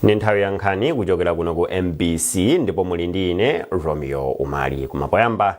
ndi nthawi ya nkhani kuchokera kuno ku mbc ndipo muli ndi ine romeo umali koma poyamba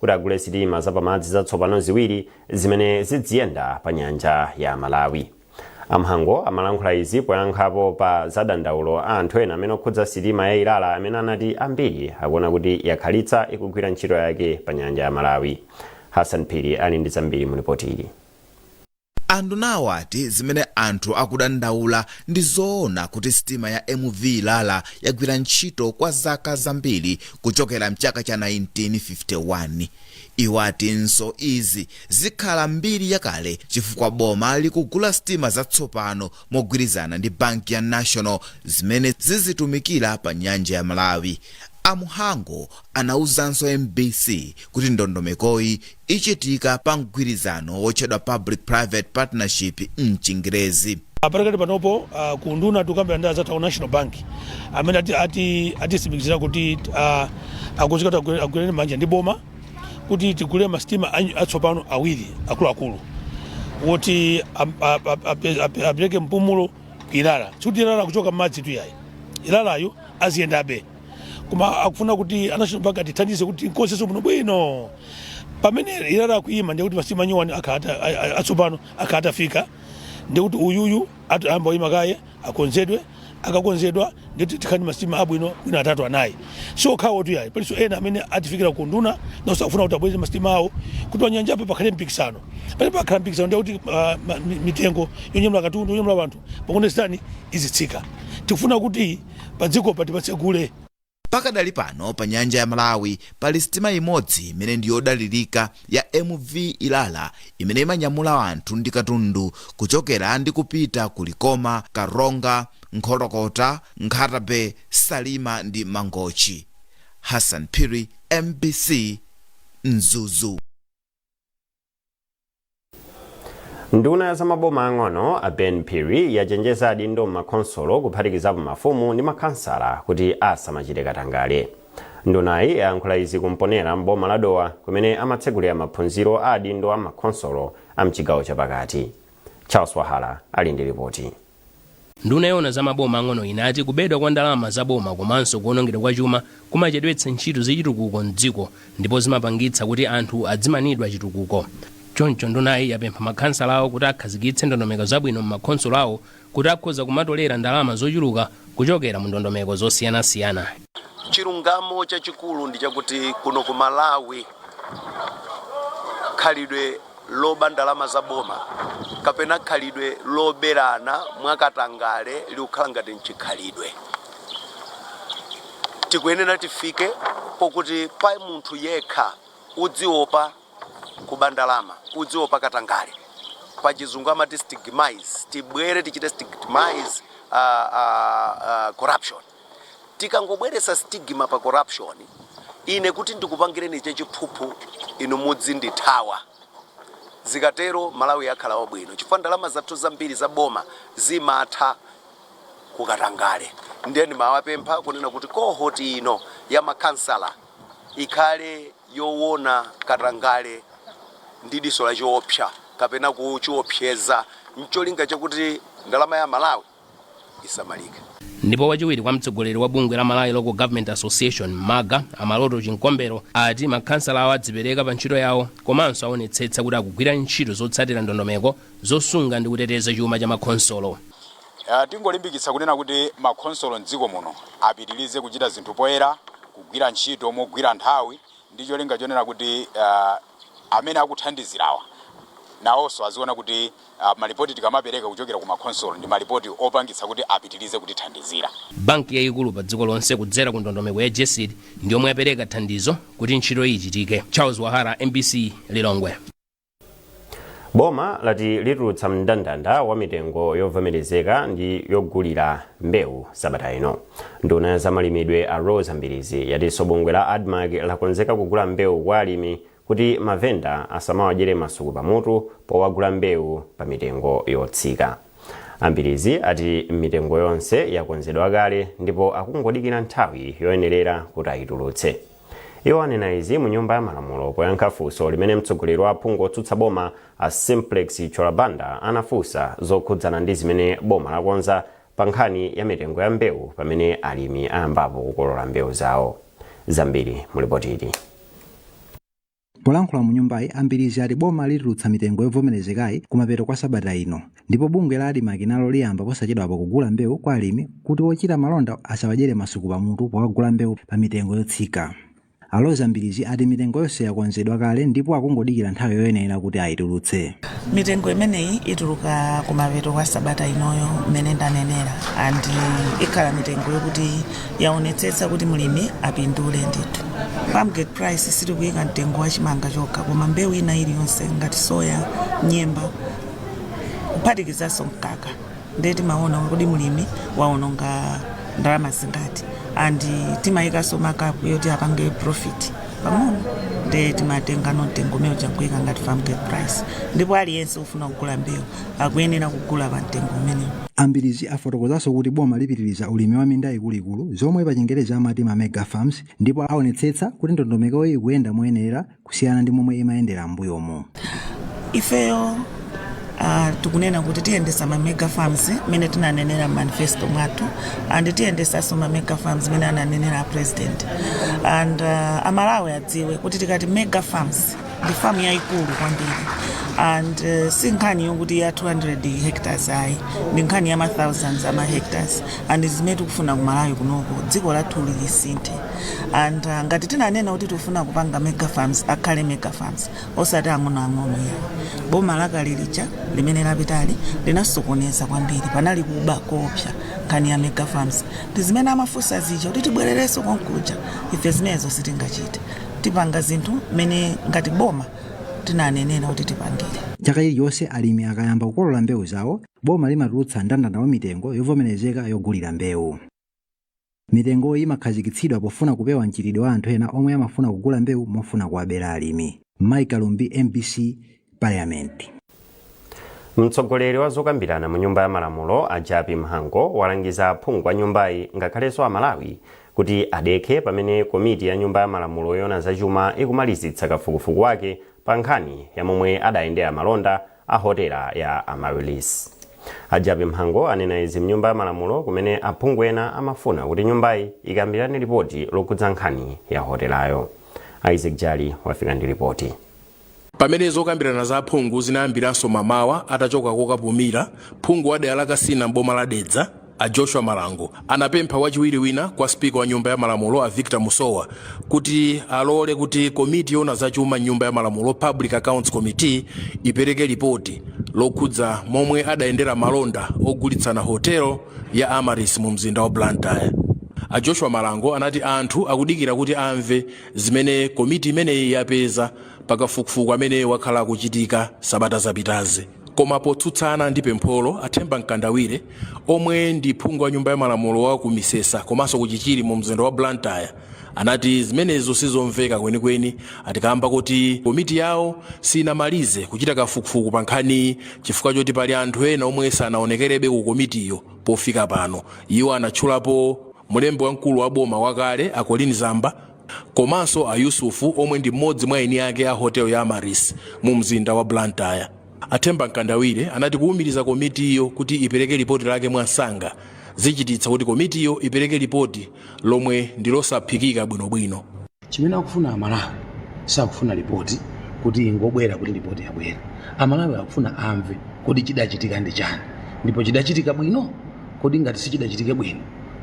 kuti agule sitima zapamadzi zatsopano ziwiri zimene zidziyenda pa nyanja ya malawi amhango amalankhula izi poyankhapo pa madandaulo a anthu ena amene okhudza sitima ya ilala amene anati ambiri akuona kuti yakhalitsa ikugwira ntchito yake pa nyanja ya malawi hassan phiri ali ndi zambiri mu lipoti ili Andunawo ati zimene anthu akudandaula ndi zoona kuti sitima ya MV Ilala yagwira ntchito kwa zaka zambiri kuchokera mchaka cha 1951. Iwo atinso izi zikhala mbiri yakale chifukwa boma likugula sitima zatsopano mogwirizana ndi banki ya National zimene zizitumikira pa nyanja ya Malawi. A Mhango anauzanso mbc kuti ndondomekoyi ichitika pa mgwirizano wotchedwa Public Private Partnership m'Chingerezi. Padakali panopo ku unduna tikukambirana ndi anzathu aku National Bank amene atitsimikizira kuti akonzeka kuti agwirane manja ndi boma kuti tigule ma sitima atsopano awiri akuluakulu woti apereke mpumulo ku Ilala. Sikuti Ilala akuchoka m'madzi tu yayi, Ilalayo aziyendabe. koma akufuna kuti a national bank atithandize kuti tikonzenso bwino bwino pamene ilala akuyima ndikuti masitima nyuwani akhata a- a- atsopano akhala atafika ndikuti uyuyu ati ayamba uyima kaye akonzedwe akakonzedwa ndikuti tikhale ndi masitima abwino bwino atatu anayi si okhawo tu yayi palinso ena amene atifikira ku unduna nawonso akufuna kuti abweretse masitima awo kuti panyanjapo pakhale mpikisano pamene pakhala mpikisano ndikuti ah, ma- mi- mitengo yonyamula katundu yonyamula wanthu pa competition izitsika tikufuna kuti panyanjapa tipatsegule. Pakadali pano pa nyanja ya Malawi pali sitima imodzi imene ndi yodalilika ya MV Ilala imene imanyamula anthu ndi katundu kuchokera ndi kupita ku Likoma, Karonga, Nkhotakota, Nkhata Bay, Salima ndi Mangochi. Hassan Phiri, mbc, Mzuzu. nduna ya zamaboma ang'ono a ben phiri yachenjeza adindo m'makhonsolo kuphatikizapo mafumu ndi makhansala kuti asamachite katangale ndunayi yayankhula izi ku mponela m'boma la dowa kumene amatsegulira maphunziro a adindo a makhonsolo a mchigawo chapakati charles vahala ali ndi ripoti Nduna yoona za maboma ang'ono inati kubedwa kwa ndalama za boma komanso kuonongedwa kwa chuma kumachedwetsa ntchito za chitukuko m'dziko ndipo zimapangitsa kuti anthu adzimanidwa chitukuko. Choncho ndunayi yapempha makhansalawo kuti akhazikitse ndondomeko zabwino m'makhonsolo awo kuti akhoza kumatolera ndalama zochuluka kuchokera mu ndondomeko zosiyanasiyana. Chilungamo chachikulu ndi chakuti kuno ku Malawi. khalidwe loba ndalama za boma kapena khalidwe loberana mwakatangale likukhala ngati mchikhalidwe tikuyenera tifike pokuti pa munthu yekha udziopa kuba ndalama udziopa katangale pachizungu amati stigmatize tibwere tichite stigmatize uh, uh, uh, corruption Tikangobweretsa stigma pa corruption, ine kuti ndikupangireni chachiphuphu inu mudzindithawa. Zikatero Malawi yakhala wabwino chifukwa ndalama zathu zambiri za boma zimatha ku katangale. Ndiye ndimawapempha kunena kuti cohort ino ya makhansala ikhale yowona katangale ndi diso lachiopsa kapena kuchiopseza ncholinga chakuti ndalama ya Malawi. isamalike. Ndipo wachiwiri kwa mtsogoleri wa bungwe la Malawi Local Government Association, MALGA, a Maloto Chikombero ati makhansalawo adzipereka pa ntchito yawo komanso aonetsetsa kuti akugwira ntchito zotsatira ndondomeko zosunga ndi kuteteza chuma cha makhonsolo. Uh, tingolimbikitsa kunena kuti makhonsolo mdziko muno apitirize kuchita zinthu poyera, kugwira ntchito mogwira nthawi ndi cholinga chonena kuti uh, amene akuthandizirawa nawonso aziona kuti malipoti tikamapereka kuchokera ku makhonsolo ndi malipoti opangitsa kuti apitilize kutithandizira. Banki yayikulu pa dziko lonse kudzera ku ndondomeko ya GESD ndi yomwe yapereka thandizo kuti ntchitoyi ichitike. Charles Wahara, mbc, Lilongwe. Boma lati litulutsa mndandanda wa mitengo yovomerezeka ndi yogulira mbewu sabata ino. Nduna ya zamalimidwe a Roza Mbilizi yatinso bungwe la Admarc lakonzeka kugula mbewu kwa alimi kuti mavenda asamawadyere masuku pamutu powagula mbewu pamitengo yotsika. A Mbilizi ati mitengo yonse yakonzedwa kale ndipo akungodikira nthawi yoyenerera kuti ayitulutse. Iwo anena izi mu nyumba ya malamulo poyankha funso limene mtsogoleri wa aphungu otsutsa boma a Simplex Chithyola Banda anafunsa zokhudzana ndi zimene boma lakonza pankhani ya mitengo ya mbewu pamene alimi ayambapo kukolola mbewu zawo zambiri mu lipotili polankhula mu nyumbayi a Mbilizi ati boma litulutsa mitengo yovomerezekayi kumapeto kwa sabata ino ndipo bungwe la Admarc nalo liyamba posachedwapa kugula mbewu kwa alimi kuti ochita malonda asawadyere masuku pamutu powagula mbewu pa mitengo yotsika A Roza Mbilizi ati mitengo yonse yakonzedwa kale ndipo akungodikira nthawi yoyenera kuti ayitulutse. Mitengo imeneyi ituluka kumapeto kwa sabata inoyo mmene ndanenera and ikhala mitengo yokuti yaonetsetsa kuti mlimi apindule ndithu. Farmgate price sitikuyika mtengo wa chimanga chokha koma mbewu ina iliyonse ngati soya, nyemba kuphatikizanso mkaka. nde timaona kuti mlimi waononga ndalama zingati and timayikanso markup yoti apange profit pang'ono nde timatengano mtengo umene uja nkuika ngati farm gate price ndipo aliyense ofuna kugula mbewu akuyenera kugula pa mtengo umenewu a Mbilizi afotokozanso kuti boma lipitiriza ulimi wa minda ikuluikulu zomwe pachingerezi amati ma mega farms ndipo aonetsetsa kuti ndondomekoyi ikuyenda moyenera kusiyana ndi momwe imayendera m'mbuyomu. ifeyo ah, tikunena kuti tiyendesa ma mega farms mmene tinanenera m'manifesto mwathu and tiyendesanso ma mega farms mmene ananenera a president and ah, amalawi adziwe kuti tikati mega farms ndi famu yayikulu kwambiri and eh, si nkhani yokuti ya 200 hectares ayi ndi nkhani ya ma thousands ama hectares and zimene tikufuna kumalawi kunoko dziko lathu lisinthe and uh, ngati tinanena kuti tifuna kupanga mega farms akhale mega farms osati ang'onoang'ono ya boma lakale lija limene lapitali linasokoneza kwambiri panali kuba koopsa nkhani ya mega farms ndi zimene amafunsa zija kuti tibwererenso konkuja ife zimenezo sitingachite tipanga zinthu mmene ngati boma tinanenera kuti tipangire chaka chilichonse alimi akayamba kukolola mbewu zawo boma limatulutsa mndandanda wa mitengo yovomerezeka yogulira mbewu Mitengoyi imakhazikitsidwa pofuna kupewa mchitidwe wa anthu ena omwe amafuna kugula mbewu mofuna kuwabera alimi. Mayeso Kalumbi, mbc, Parliament. Mtsogoleri wa zokambirana mu nyumba ya malamulo a Jappie Mhango walangiza aphungu a nyumbayi ngakhalenso a Malawi kuti adekhe pamene komiti ya nyumba ya malamulo yoona za chuma ikumalizitsa kafukufuku wake pa nkhani ya momwe adayendera malonda a hotela ya Amaryllis. A Jappie Mhango anena izi mnyumba ya malamulo kumene aphungu ena amafuna kuti nyumbayi ikambirane lipoti lokhudza nkhani ya hotelayo. Isaac Jali wafika ndi lipoti. pamene zokambirana za aphungu zinayambiranso mamawa atachoka kokapumira phungu wa dera la kasina m'boma la dedza A Joshua Malango anapempha wachiwiri wina kwa Spika wa Nyumba ya Malamulo a Victor Musowa kuti alole kuti komiti yoona za chuma m'Nyumba ya Malamulo, Public Accounts Committee, ipereke lipoti lokhudza momwe adayendera malonda ogulitsana hotel ya Amaryllis mumzinda wa Blantyre. A Joshua Malango anati anthu akudikira kuti amve zimene komiti imeneyi yapeza pa kafukufuku amene wakhala akuchitika sabata zapitazi. Koma potsutsana ndi pempholo, a Themba Mkandawire omwe ndi phungu wa nyumba ya malamulo wa ku Misesa komanso ku Chichiri mu mzinda wa Blantyre anati zimenezo sizomveka kwenikweni ati kaamba koti komiti yawo sinamalize kuchita kafukufuku pa nkhaniyi chifukwa choti pali anthu ena omwe sanaonekerebe ku komitiyo pofika pano. Iwo anatchulapo mlembi wamkulu wa boma wakale a Colleen Zamba komanso a Yusuf omwe ndi mmodzi mwa eni ake a hotel ya Amaryllis mu mzinda wa Blantyre. A Themba Mkandawire anati kuwumiriza komitiyo kuti ipereke lipoti lake mwansanga zichititsa kuti komitiyo ipereke lipoti lomwe ndi losaphikika bwinobwino. Chimene akufuna Amalawi sakufuna lipoti kuti ingobwera kuti lipoti yabwera. Amalawi akufuna amve kodi chidachitika ndi chani ndipo chidachitika bwino? Kodi ngati sichidachitike bwino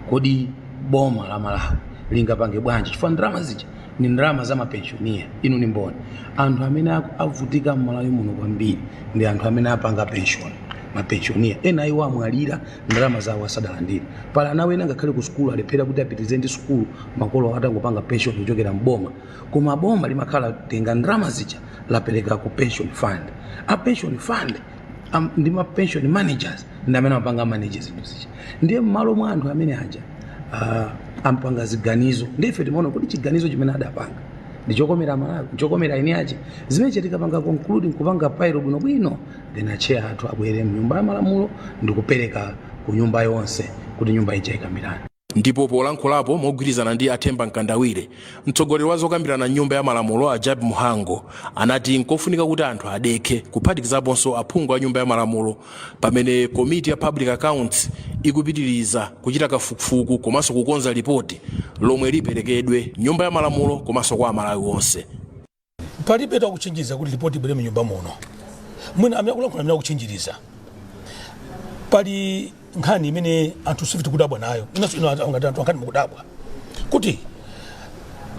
kodi boma la malawi lingapange bwanji chifukwa ndalama zija ni ndalama za mapenshoniya inu ni mboni anthu amene aku- avutika mmalawi muno kwambiri ndi anthu amene apanga penshoni mapenshoniya ena iwo amwalira ndalama zawo asadalandire pali ana wena ngakhale ku sukulu alephera kuti apitirize ndi sukulu makolo awo atangopanga penshoni kuchokera mboma koma boma limakhala latenga ndalama zija lapereka ku pension fund a pension fund Am- ndi ma pension managers ndi amene amapanga manage zinthu zija ndiye mmalo mwa anthu amene aja ah, amapanga ziganizo ndiye ife timaona kuti chiganizo chimene adapanga ndi chokomera malawi chokomera eni ache zimene chatikapanga conclude nkupanga file bwino bwino then acheya athu abwere mnyumba ya malamulo ndi kupereka ku nyumba yonse kuti nyumba ija ikambirane Ndipo polankhulapo mogwirizana ndi a Themba Mkandawire, mtsogoleri wa zokambirana m'nyumba ya malamulo a Jappie Mhango anati nkofunika kuti anthu adekhe kuphatikizaponso aphungu a nyumba ya malamulo pamene komiti ya Public Accounts ikupitiriza kuchita kafukufuku komanso kukonza lipoti lomwe liperekedwe m'nyumba ya malamulo komanso kwa Amalawi onse. palibe amene akuchinjiriza kuti lipoti ibwere mnyumba muno mwina amene akulankhula ndi amene akuchinjiriza pali nkhani imene anthu ife tikudabwa nayo inunso inu anthu ngati anthu a nkhani mukudabwa kuti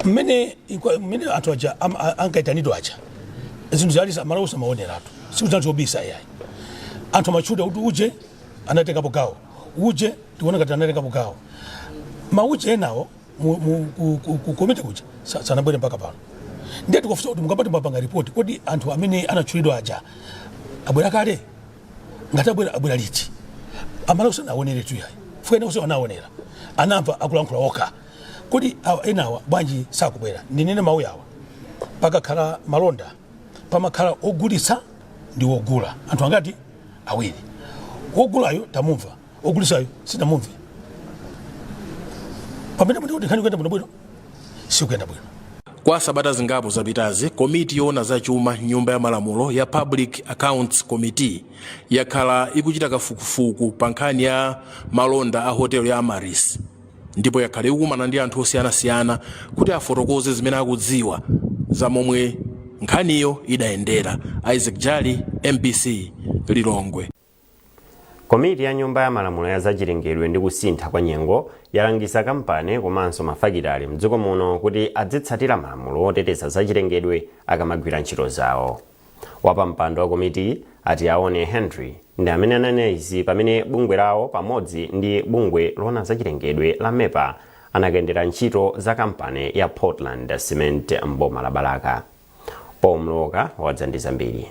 mmene ikwa- mmene anthu aja am- a- ankaitanidwa aja zinthu zali amalawi amaoneratu si kuti zinthu zobisa yayi anthu amatchula kuti uje anatengapo gawo uje tikuona ngati anatengapo gawo mauje enawo mu- mu- ku- ku- ku komiti kuja sa- sanabwere mpaka pano ndiye tikufunsa kuti mukamati mwapanga ripoti kodi anthu amene anatchulidwa aja abwera kale ngati abwera abwera liti amalawi sanaoneretu yayi chifukwa ena onse anaonera anamva akulankhula okha kodi awa enawa bwanji sakubwera ndinene mawu yawa pakakhala malonda pamakhala ogulitsa ndi wogula anthu angati awiri wogulayo tamumva ogulisayo sitinamumve pamene muti kuti nkhani ikuyenda bwino bwino sikuyenda bwino kwa sabata zingapo zapitazi komiti yoona za chuma m'nyumba ya malamulo ya public accounts committee yakhala ikuchita kafukufuku pa nkhani ya malonda a hotel ya amaryllis ndipo yakhala ikukumana ndi anthu osiyanasiyana kuti afotokoze zimene akudziwa za momwe nkhaniyo idayendera isaac jali mbc lilongwe Komiti ya Nyumba ya Malamulo ya Zachilengedwe ndi Kusintha kwa Nyengo yalangiza kampani komanso mafakitale mdziko muno kuti adzitsatira malamulo oteteza zachilengedwe akamagwira ntchito zawo. Wapampando wa komitiyi a Tiaone Hendry ndi amene ananena izi pamene bungwe lawo pamodzi ndi bungwe loona zachilengedwe la MEPA anakayendera ntchito za kampani ya Portland Cement m'boma la Balaka. Paul Mlowoka wadza ndi zambiri.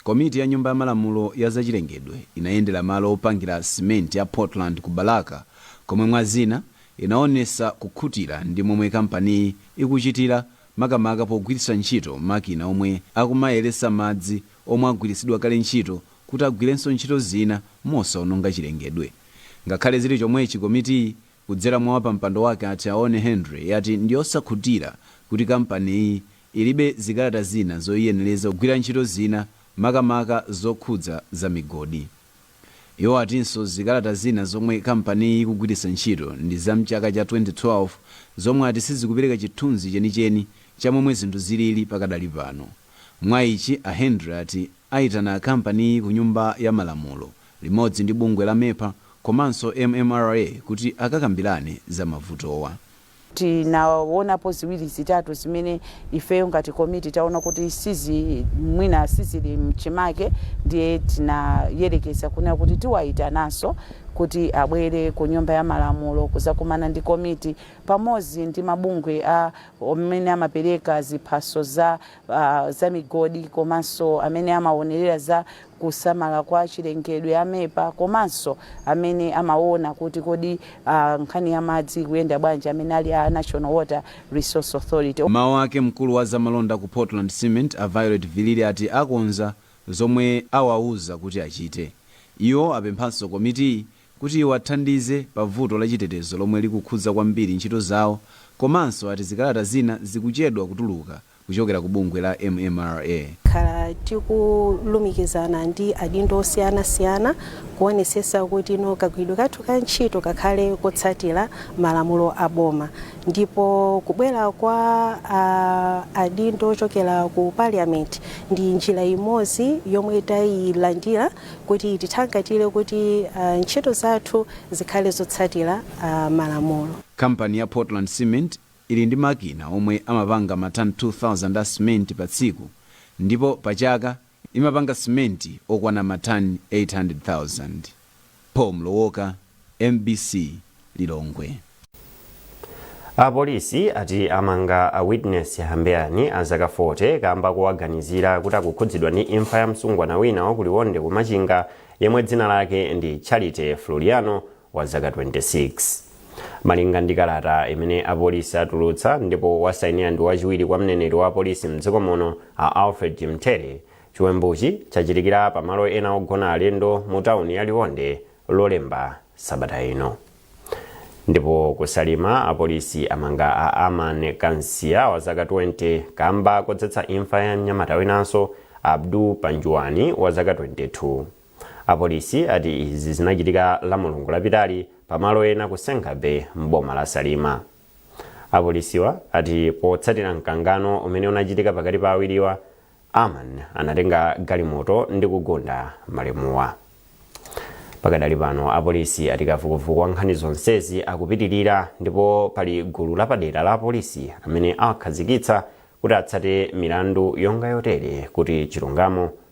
Komiti ya Nyumba ya Malamulo ya zachilengedwe inayendera malo opangira simenti ya Portland ku Balaka komwe mwa zina inaonesa kukhutira ndi momwe kampaniyi ikuchitira makamaka pogwiritsa ntchito makina omwe akumayeretsa madzi omwe agwiritsidwa kale ntchito kuti agwirenso ntchito zina mosaononga chilengedwe. Ngakhale zili chomwechi komitiyi kudzera mwa wapampando wake a Tiaone Hendry yati ndiyosakhutira kuti kampaniyi ilibe zikalata zina zoyiyenereza kugwira ntchito zina makamaka zokhudza za migodi. Iwo atinso zikalata zina zomwe kampaniyi ikugwiritsa ntchito ndi za m'chaka cha 2012 zomwe ati sizikupereka chithunzi chenicheni cha momwe zinthu zilili pakadali pano. Mwa ichi a Hendry ati ayitana kampaniyi ku nyumba ya malamulo limodzi ndi bungwe la MEPA komanso MMRA kuti akakambirane za mavutowa. Tinawonapo ziwiri zitatu zimene ifeyo ngati komiti tawona kuti sizi mwina sizili mchimake ndiye tinayerekeza kunena kuti tiwayitananso kuti abwere ku nyumba ya malamulo kuzakumana ndi komiti pamodzi ndi mabungwe a amene amapereka ziphaso za za migodi komanso amene amawonelera za kusamala kwa chilengedwe, a MEPA, komanso amene amawona kuti kodi nkhani ya madzi ikuyenda bwanji amene ali a National Water Resource Authority. M'mawu ake mkulu wa zamalonda ku Portland Cement a Violet Vilili ati akonza zomwe awauza kuti achite. Iwo apemphanso komitiyi kuti iwathandize pa vuto la chitetezo lomwe likukhudza kwambiri ntchito zawo komanso ati zikalata zina zikuchedwa kutuluka. kuchokera ku bungwe la MMRA. Takhala tikulumikizana ndi adindo osiyana siyana kuonesesa kuti no kagwiridwe kathu ka ntchito kakhale kotsatira malamulo a boma ndipo kubwera kwa adindo ochokera ku Parliament ndi njira imodzi yomwe tayilandira kuti itithangatire kuti ntchito zathu zikhale zotsatira malamulo. Kampani ya Portland Cement ili ndi makina omwe amapanga matani 2,000 a simenti pa tsiku ndipo pa chaka imapanga simenti okwana matani 800,000. Paul Mlowoka, mbc, Lilongwe. Apolisi ati amanga a Witness Hambeyani a zaka 40 kamba kowaganizira kuti akukhudzidwa ndi imfa ya msungwana wina wa ku Liwonde ku Machinga yemwe dzina lake ndi Charity Floriano wa zaka 26. Malinga ndi kalata imene apolisi atulutsa ndipo wasainira ndi wachiwiri kwa mneneri wa apolisi m'dziko muno a Alfred Chimthele, chiwembuchi chachitikira pa malo ena ogona alendo mu tauni ya Liwonde Lolemba sabata ino. Ndipo ku Salima apolisi amanga a Aman Kansiya wa zaka 20 kamba kodzetsa imfa ya mnyamata winanso Abdul Panjuwani wa zaka 22. Apolisi ati izi zinachitika la Mulungu lapitali pa malo ena ku Sengabay m'boma la Salima. Apolisiwa ati potsatira mkangano umene unachitika pakati pa awiriwa, Aman anatenga galimoto ndi kugunda malemuwa. Pakadali pano apolisi ati kafukufuku wa nkhani zonsezi akupitirira ndipo pali gulu lapadera la apolisi amene awakhazikitsa kuti atsate milandu yonga yotere kuti chilungamo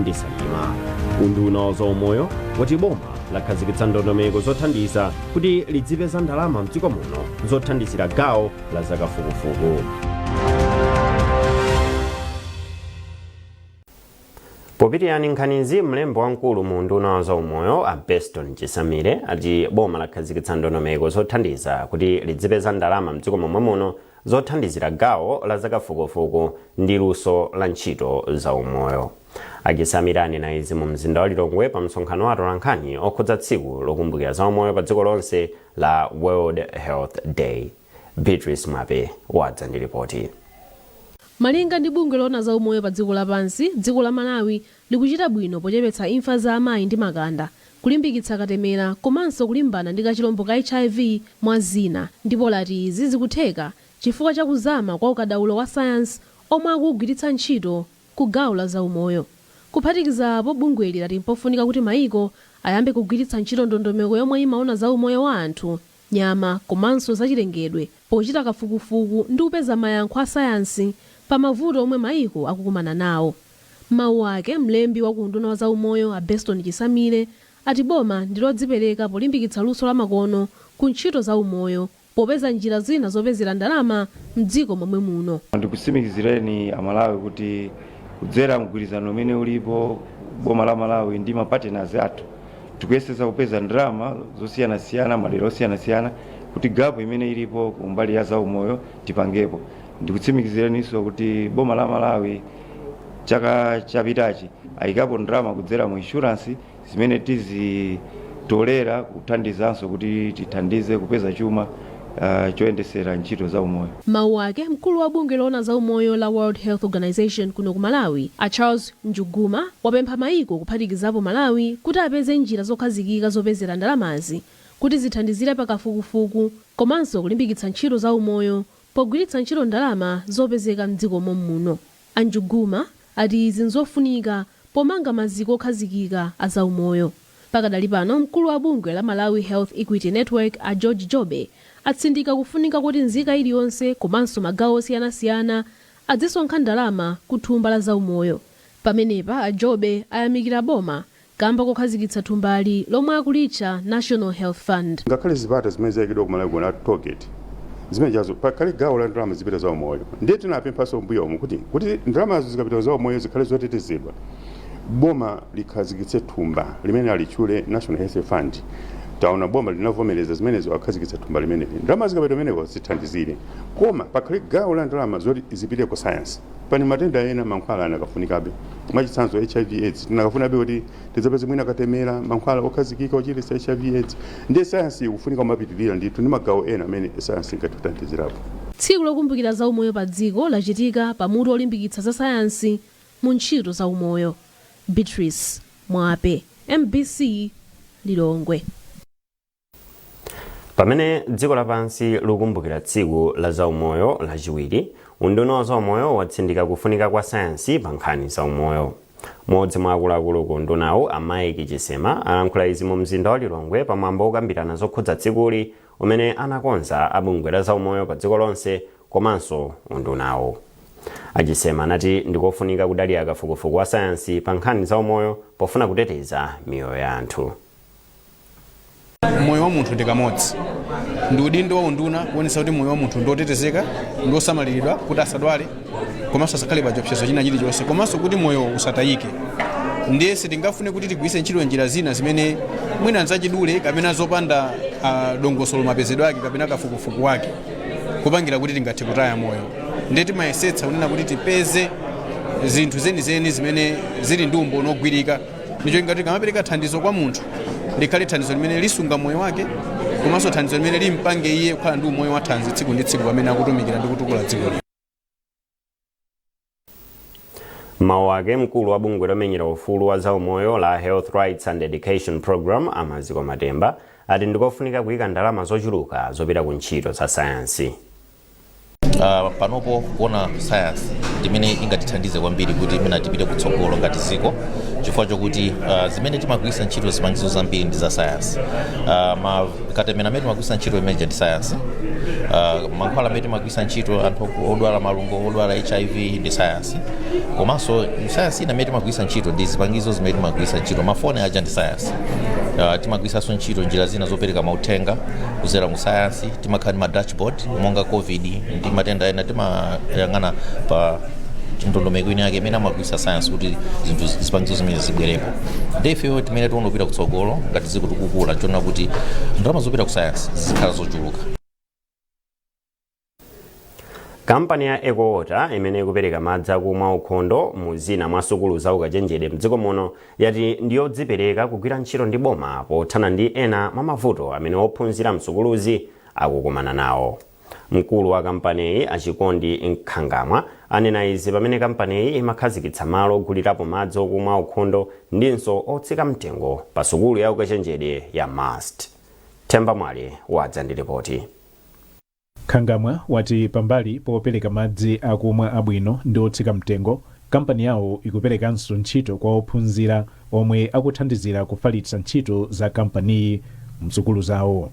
ndi salima unduna wa zaumoyo wati boma lakhazikitsa ndondomeko zothandiza kuti lidzipeza ndalama mdziko muno zothandizira gawo la zakafukufuku popitiriza nkhanizi mlembi wamkulu mu unduna wa zaumoyo a beston chisamile ati boma lakhazikitsa ndondomeko zothandiza kuti lidzipeza ndalama mdziko momwe muno zothandizira gawo la zakafukufuku ndi luso la ntchito za umoyo. A Chisamile anena izi mu mzinda wa Lilongwe pa msonkhano wa atolankhani okhudza tsiku lokumbukira za umoyo pa dziko lonse la World Health Day. Beatrice Mwape wadza ndi lipoti. Malinga ndi bungwe loona za umoyo pa dziko lapansi, dziko la Malawi likuchita bwino pochepetsa imfa za amayi ndi makanda, kulimbikitsa katemera komanso kulimbana ndi kachilombo ka hiv mwa zina ndipo lati izi zikutheka chifukwa cha kuzama kwa ukadaulo wa sayansi omwe akuwugwiritsa ntchito ku gawo la zaumoyo. Kuphatikiza apo, bungweli lati mpofunika kuti maiko ayambe kugwiritsa ntchito ndondomeko yomwe imaona za umoyo wa anthu nyama komanso zachilengedwe pochita kafukufuku ndi kupeza mayankho a sayansi pa mavuto omwe maiko akukumana nawo. M'mawu ake, mlembi wa ku unduna wa zaumoyo a Beston Chisamile ati boma ndi lodzipereka polimbikitsa luso la makono ku ntchito za umoyo popeza njira zina zopezera ndalama m'dziko momwe muno. Ndikutsimikizireni Amalawi kuti kudzera mgwirizano umene ulipo boma la Malawi ndi ma partners athu, tikuyesesa kupeza ndalama zosiyanasiyana madera osiyanasiyana kuti gapu imene ilipo kumbali ya zaumoyo tipangepo ndikutsimikiziraninso kuti boma la malawi chaka chapitachi ayikapo ndalama kudzera mu inshuransi zimene tizitolera kuthandizanso kuti tithandize kupeza chuma uh, choyendesera ntchito za umoyo M'mawu ake, mkulu wa bungwe loona za umoyo la World Health Organization kuno ku Malawi, a Charles Njuguma wapempha maiko kuphatikizapo Malawi kuti apeze njira zokhazikika zopezera ndalamazi kuti zithandizire pa kafukufuku komanso kulimbikitsa ntchito za umoyo pogwiritsa ntchito ndalama zopezeka m'dziko mommuno. A Njuguma ati izi n'zofunika pomanga maziko okhazikika a za umoyo. Pakadali pano mkulu wa bungwe la Malawi Health Equity Network a George Jobe atsindika kufunika koti nzika iliyonse komanso magawo osiyanasiyana adzisonkha ndalama ku thumba la zaumoyo. Pamenepa a Jobe ayamikira boma kamba kokhazikitsa thumbali lomwe akulitcha National Health Fund. Ngakhale zipata zimene zaikidwa ku Malawi kuno a toll gate zimenejazo pakhale gawo la ndalama zopita zaumoyo ndiye tinapemphanso m'mbuyomu kuti ndalamazo zikapita ku zaumoyo zikhale zotetezedwa boma likhazikitse thumba limene alitchule National Health Fund taona boma linavomereza zimenezo akhazikitsa thumba limeneli ndalama zikapita kumeneko zithandizire koma pakhale gawo la ndalama zoti zipite ku sayansi pali matenda ena mankhwala anakafunikabe mwachitsanzo hiv aids tinakafunabe kuti tidzapeze mwina katemera mankhwala okhazikika ochiritsa hiv aids ndiye sayansi ikufunika kumapitirira ndithu ndi magawo ena amene sayansi ingatithandizirapo Tsiku lokumbukira za umoyo pa dziko lachitika pa mutu wolimbikitsa za sayansi mu ntchito za umoyo. Beatrice Mwape, mbc, Lilongwe. pamene dziko lapansi likukumbukira tsiku la zaumoyo lachiwiri unduna wa zaumoyo watsindika kufunika kwa sayansi pa nkhani zaumoyo mmodzi mwa akuluakulu ku undunawu a mike chisema alankhula izi mu mzinda wa lilongwe pa mwambo wokambirana zokhudza tsikuli umene anakonza a bungwe la zaumoyo pa dziko lonse komanso undunawo a chisema anati ndikofunika kudalira kafukufuku wa sayansi pa nkhani zaumoyo pofuna kuteteza miyoyo ya anthu moyo wa munthu ndi kamodzi ndi udindo wa unduna kuonetsa kuti moyo wa munthu ndi otetezeka ndi osamaliridwa kuti asadwale komanso asakhale pa chiopsezo china chilichonse komanso kuti moyo usatayike ndiye sitingafune kuti tigwiritse ntchito njira zina zimene mwina nzachidule kapena zopanda ah, dongosolo mapezedwe ake kapena kafukufuku wake kupangira kuti tingathe kutaya moyo ndiye timayesetsa kunena kuti tipeze zinthu zenizeni zimene zili ndi umboni wogwirika ndicho ngati tikamapereka thandizo kwa munthu likhale thandizo limene lisunga moyo wake komanso thandizo limene limpange iye kukhala ndi umoyo wathanzi tsiku ndi tsiku pamene akutumikira ndi kutukula dziko mawu ake mkulu wa bungwe lomenyera ufulu wa zaumoyo la health rights and education program amaziko matemba ati ndikofunika kuyika ndalama zochuluka zopita ku ntchito za sayansi Uh, panopo kuona sayansi ndimene ingatithandize kwambiri kuti mwina tipite kutsogolo ngati dziko chifukwa chokuti uh, zimene timagwiritsa ntchito zipangizo zambiri ndi za sayansi uh, ma katemera amene timagwiritsa ntchito imeneja ndi sayansi uh, mankhwala amene timagwiritsa ntchito anthu odwala malungo odwala hiv ndi sayansi komanso sayansi ina amene timagwiritsa ntchito ndi zipangizo zimene timagwiritsa ntchito mafoni aja ndi sayansi uh, timagwiritsanso ntchito njira zina zopereka mauthenga kuzera mu sayansi timakhala ndi ma dashboard monga covid ndi matenda ena timayang'ana pa ndondomeko ina yake imene amagwiritsa sayansi kuti zinthu zipangizo zimene zibwerepo ndi ifeyo timene tikuona kupita kutsogolo ngati dziko tikukula tiona kuti ndalama zopita ku sayansi zikhala zochuluka Kampani ya Ecowater imene ikupereka madzi akumwa aukhondo mu zina mwa sukulu za ukachenjede mdziko muno yati ndiyodzipereka kugwira ntchito ndi boma pothana ndi ena mwa mavuto amene ophunzira msukuluzi akukumana nawo. Mkulu wa kampaniyi a Chikondi Nkhangamwa anena izi pamene kampaniyi imakhazikitsa malo ogulirapo madzi okumwa aukhondo ndinso otsika mtengo pa sukulu ya ukachenjede ya must. Themba Mwale wadza ndi lipoti. Nkhangamwa wati pambali popereka madzi akumwa abwino ndi otsika mtengo, kampani yawo ikuperekanso ntchito kwa ophunzira omwe akuthandizira kufalitsa ntchito za kampaniyi msukulu zawo.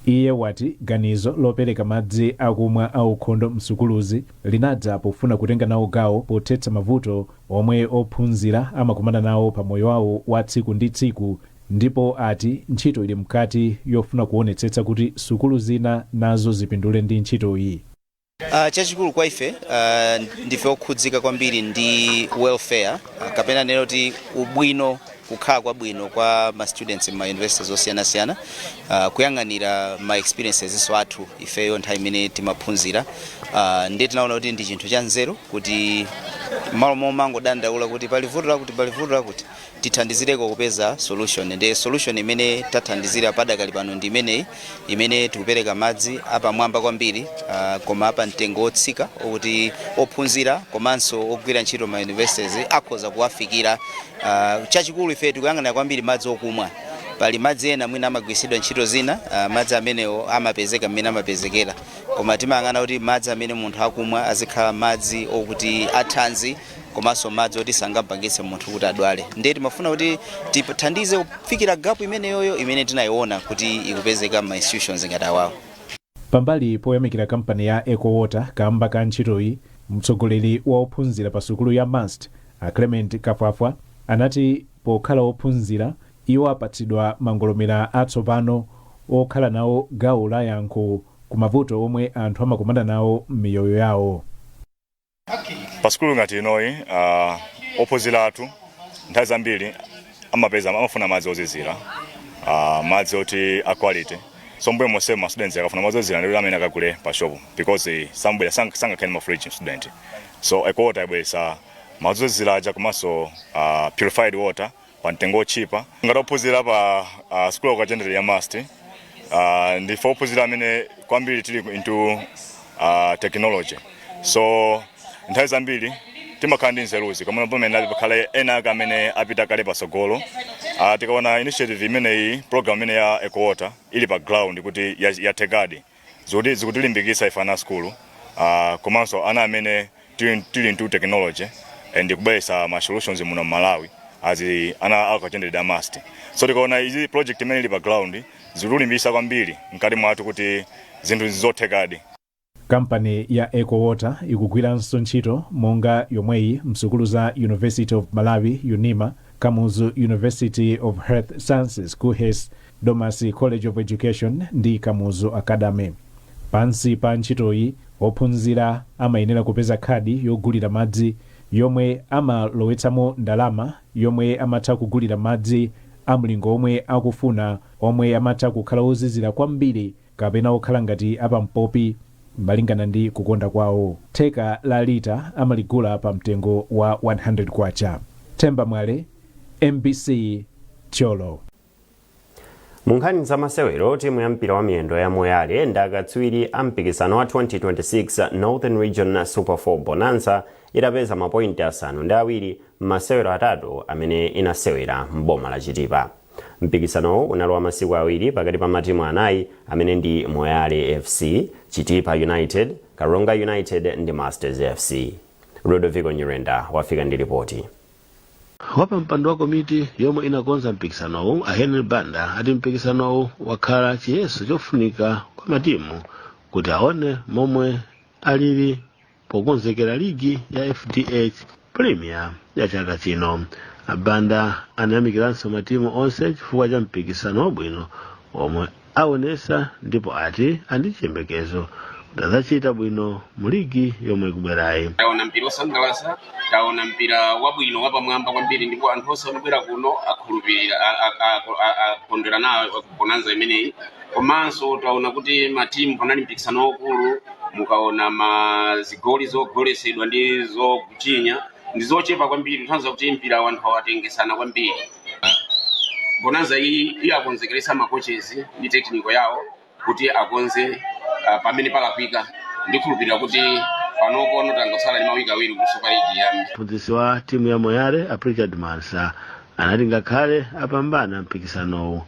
Iye wati ganizo lopereka madzi akumwa aukhondo msukuluzi linadza pofuna kutenga nawo gawo pothetsa mavuto omwe ophunzira amakumana nawo pamoyo wawo wa tsiku ndi tsiku, Ndipo ati ntchito ili mkati yofuna kuonetsetsa kuti sukulu zina nazo zipindule ndi ntchito iyi. Uh, chachikulu kwa ife uh, ndife okhudzika kwambiri ndi welfare uh, kapena ndinene kuti ubwino kukhala kwabwino kwa ma students m'ma universities osiyanasiyana uh, kuyang'anira ma experiences nso athu ifeyo nthawi imene timaphunzira uh, ndiye tinaona kuti ndi chinthu cha nzeru kuti m'malo momangodandaula kuti pali vuto lakuti pali vuto lakuti tithandizireko kupeza solution ndiye solution imene tathandizira padakali pano ndi imeneyi imene tikupereka madzi apamwamba kwambiri ah, koma a pamtengo wotsika okuti ophunzira komanso ogwira ntchito m'ma universities akhoza kuwafikira Ah, chachikulu ife tikuyang'ana kwambiri madzi okumwa pali madzi ena mwina amagwiritsidwa ntchito zina ah, madzi amenewo amapezeka mmene amapezekera koma timayang'ana kuti madzi amene munthu akumwa azikhala madzi okuti athanzi komanso madzi oti sangapangitse munthu kuti adwale ndiye timafuna kuti tithandize kufikira gapu imeneyoyo imene tinayiona kuti ikupezeka m'ma institutions ngati awawo pambali poyamikira kampani ya ecowater kamba ka ntchitoyi mtsogoleri wa ophunzira pa sukulu ya MUST a clement kafwafwa anati pokhala ophunzira iwo apatsidwa mangolomera atsopano okhala nawo gawo la yankho ku mavuto omwe anthu amakumana nawo m'miyoyo yawo Pa sukulu ngati inoyi uh, ophunzira athu nthawi zambiri amapeza amafuna madzi ozizira uh, madzi oti a quality so mbuyo monse ma students akafuna madzi ozizira ndiye amakhala akagule pa shop because sambwera sang, sangakhale ndi ma fridge student so ecowater yabweresa madzi ozizira aja komanso uh, purified water pa mtengo wotchipa ngati ophunzira pa uh, sukulu ya ukachenjede ya must uh, ndife ophunzira amene kwambiri tili into uh, technology so nthawi zambiri timakhala ndi nzeruzi komano pomwe pali kale ena ake amene apita kale pasogolo uh, tikaona initiative imeneyi program imene ya ecowater ili pa ground kuti ya- yathekadi zikuti zikutilimbikitsa ife ana asukulu uh, komanso ana amene tili tili into technology and kubweretsa ma solutions muno mmalawi as ana a ukachenjede wa must so tikaona izi project imene ili pa ground zikutilimbikitsa kwambiri mkati mwathu kuti zinthu nzothekadi kampani ya ecowater ikugwiranso ntchito monga yomweyi msukulu za university of malawi unima kamuzu university of health sciences kuhes Domasi College of Education ndi Kamuzu Academy. Pansi pa ntchitoyi, ophunzira amayenera kupeza khadi yogulira madzi yomwe amalowetsamo ndalama yomwe amatha kugulira madzi a mlingo omwe akufuna omwe amatha kukhala ozizira kwambiri kapena okhala ngati apampopi malingana ndi kukonda kwawo. Theka la lita amaligula pa mtengo wa K100. Themba Mwale, mbc, Thyolo. mu nkhani za masewero timu ya mpira wa miyendo ya moyale ndi akatswiri a mpikisano wa 2026 northern region super 4 bonanza itapeza mapointi asanu ndi awiri m'masewero atatu amene inasewera m'boma la chitipa mpikisanowu unali wa masiku awiri pakati pa matimu anayi amene ndi moyale fc chitipa united karonga united ndi masters fc ludovico nyirenda wafika ndi lipoti wapampando wa komiti yomwe inakonza mpikisanowu a henry banda ati mpikisanowu wakhala chiyeso chofunika kwa matimu kuti aone momwe alili pokonzekera ligi ya fdh premier ya chaka chino a banda anayamikiranso matimu onse chifukwa cha mpikisano wabwino omwe aonesa ndipo ati ali ndi chiyembekezo kuti adzachita bwino mu ligi yomwe ikubwerayi taona mpira osangalatsa taona mpira wabwino wapamwamba kwambiri ndipo anthu onse anabwera kuno akhulupirira a- a- a- a- akondwera nayo bonanza imeneyi komanso taona kuti matimu panali mpikisano waukulu mukaona mazigoli zogoletsedwa ndi zochinya ndi zochepa kwambiri kutanthauza kuti mpira anthu anatengetsana kwambiri bonanza iyi yawakonzekeretsa makochi ndi tekiniko yawo kuti akonze uh, pamene palakwika, ndikhulupirira kuti panopono tangotsala ndi mawiki awiri kuti super league iyambe mphunzitsi wa timu ya moyale a prichard mwansa anati ngakhale apambana mpikisanowu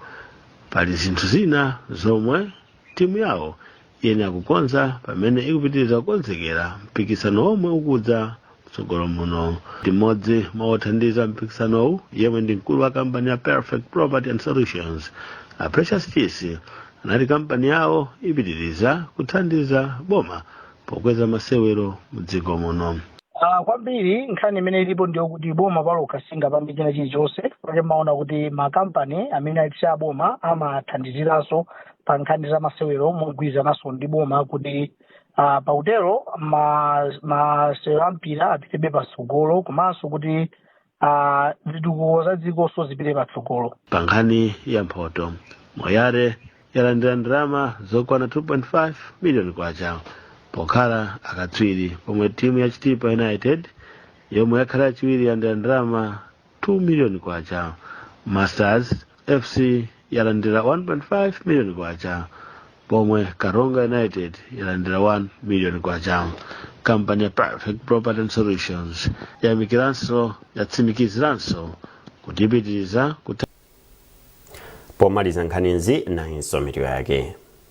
pali zinthu zina zomwe timu yawo iyenera kukonza pamene ikupitiriza kukonzekera mpikisano womwe ukudza mtsogolo muno mmodzi mwa othandiza mpikisanowu yemwe ndi mkulu wa kampani ya perfect property and solutions a precious chisi anati kampani yawo ipitiriza kuthandiza boma pokweza masewero mdziko muno Ah, kwambiri nkhani imene ilipo ndiyo kuti boma palokha singapange china chilichonse nchake mumaona kuti makampani amene sali a boma amathandiziranso pa nkhani za masewero mogwirizananso ndi boma kuti ah, pakutero ma- masewero a mpira apitebe patsogolo komanso kuti ah, zitukuko za dzikonso zipite patsogolo pa nkhani ya mphoto moyale yalandira ndalama zokwana 2.5 miliyoni kwacha pokhala akatswiri pomwe timu ya chitipa united yomwe yakhala yachiwiri yalandira ndalama 2 miliyoni kwacha masters fc yalandira 1.5 miliyoni kwacha pomwe karonga united yalandira 1 miliyoni kwacha kampani ya perfect property and solutions yayamikiranso yatsimikiziranso kuti ipitiriza kutha pomaliza nkhanizi nayinso mitu yake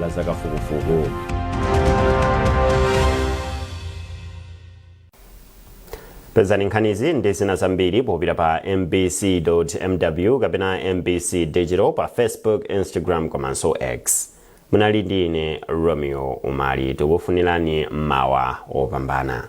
la zakafukufuku. pezani nkhanizi ndi zina zambiri popita pa mbc.mw kapena mbc digital pa facebook instagram komanso x munali ndi ine romeo umali tikufunirani mmawa opambana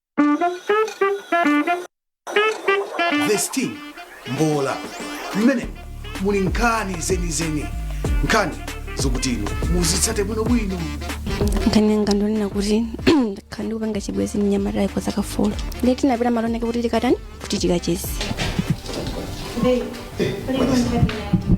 The Sting mbola mmene muli nkhani zenizeni nkhani zokuti inu muzitsate bwinobwino nkhani yanga ndonena kuti ndakhala ndikupanga chibwezi ndi mnyamata uyu kwa zaka folo ndiye tinapita malo enaake kuti tikatani kuti tikacheze Babe, what are you going to have me now?